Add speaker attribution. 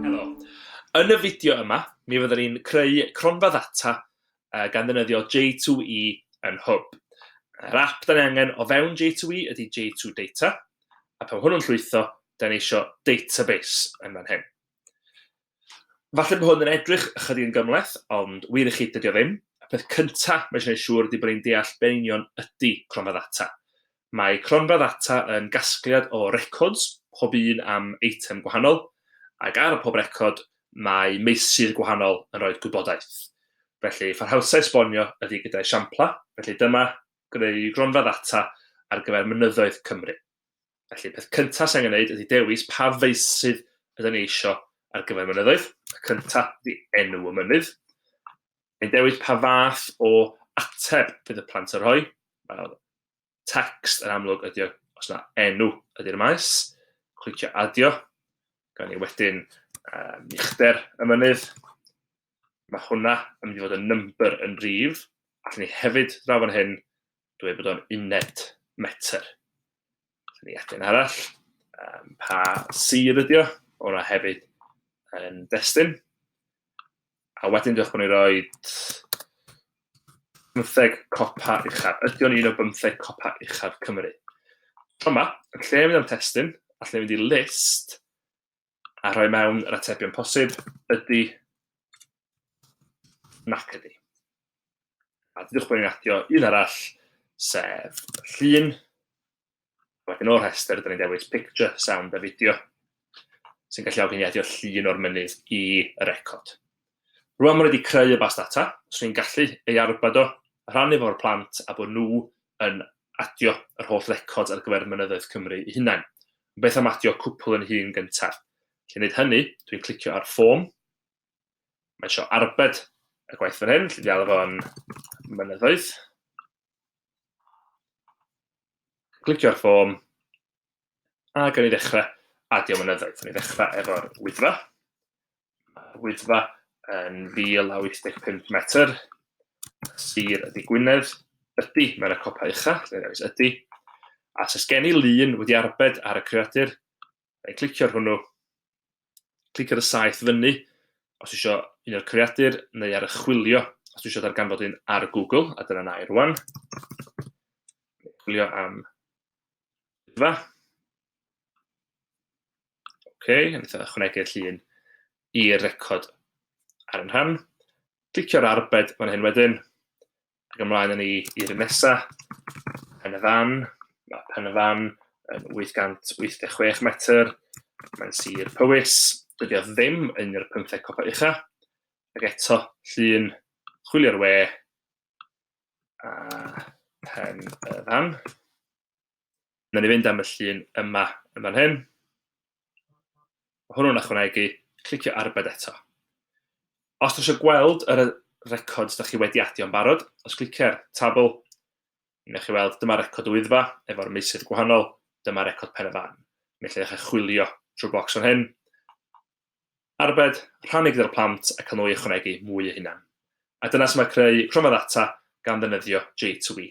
Speaker 1: Helo. Yn y fideo yma, mi fyddwn ni'n creu cronfa ddata uh, gan ddefnyddio J2E yn Hwb. Yr app da ni angen o fewn J2E ydy J2 Data, a pan hwnnw'n llwytho, da ni eisiau database yn fan hyn. Falle bod hwn yn edrych ychydig yn gymhleth, ond wir i chi, dydy o ddim. Y peth cynta mae eisiau gwneud siŵr ydy bod ni'n deall be'n union ydy cronfa ddata. Mae cronfa ddata yn gasgliad o records, pob un am eitem gwahanol, ac ar pob record mae meysydd gwahanol yn rhoi gwybodaeth. Felly, pharhausau esbonio ydy gyda esiamplau, felly dyma greu gronfa ddata ar gyfer mynyddoedd Cymru. Felly, peth cyntaf sy'n angen gwneud ydy dewis pa feysydd ydyn ni eisiau ar gyfer mynyddoedd. Y cyntaf ydy enw y mynydd. Yn dewis pa fath o ateb bydd y plant yn rhoi. Wel, text yn amlwg ydy o, os yna enw ydy'r maes. Clicio adio. Gan ni wedyn uh, uchder y mynydd. Mae hwnna yn mynd i fod yn number yn rif. Allwn ni hefyd draw fan hyn dweud bod o'n uned metr. Allwn ni edrych yn arall. Um, pa sir ydi o? Hwna hefyd yn destun. A wedyn diolch bod ni'n rhoi bymtheg copa uchaf. Ydy o'n un o bymtheg copa uchaf Cymru? Tro yma, yn lle mynd am testun, allwn ni fynd i list a rhoi mewn yr atebion posib, ydy, nac ydy. A dydwch bod ni'n adio un arall, sef llun. Wedyn o'r rhestr, dyn ni'n dewis picture, sound a fideo, sy'n galluogi ni adio llun o'r mynydd i y record. Rwan mae nhw wedi creu y bas data, os rwy'n gallu ei arbed o, rhannu fo â'r plant a bod nhw yn adio yr holl records ar gyfer mynyddoedd Cymru eu hunain. Ond beth am adio cwpl yn hŷn gyntaf? Felly wneud hynny, dwi'n clicio ar form, mae eisiau arbed y gwaith fan hyn, felly ddialw fo'n mynyddoedd. Clicio ar form, a gan i ddechrau adio mynyddoedd. Ni ddechrau efo'r wyddfa. Wyddfa yn 1,000 a 85 metr, sir ydi Gwynedd, ydi, mae'n y copa ucha, lle rhaid ydi. A sy'n gen i lun wedi arbed ar y creadur, rhaid clicio ar hwnnw, clic ar y saith fyny, os eisiau un o'r creadur, neu ar y chwilio, os eisiau darganfod un ar Google, a dyna na i rwan. Chwilio am Wyddfa. OK, yn eitha ychwanegu'r llun i'r record ar yn rhan. Clicio'r arbed fan hyn wedyn, ac ymlaen yn ni i'r un nesa, pen y fan, mae pen y fan yn 886 metr, mae'n sir Powys, dydy o ddim yn yr 15 copa ucha, ac eto llun chwilio'r we a pen y fan. Wnawn ni fynd am y llun yma yn fan hyn. Mae hwnnw'n ychwanegu, clicio arbed eto. Os dych eisiau gweld yr records da chi wedi adio yn barod, os clicio'r tabl, newch chi weld dyma record o wyddfa efo'r meysydd gwahanol, dyma record pen y fan. Mi allai eich chwilio trwy bocs fan hyn. Arbed, rhannu gyda'r plant ac nhw i ychwanegu mwy o hunan. A dyna sy'n mae creu cronfa ddata gan ddefnyddio J2E.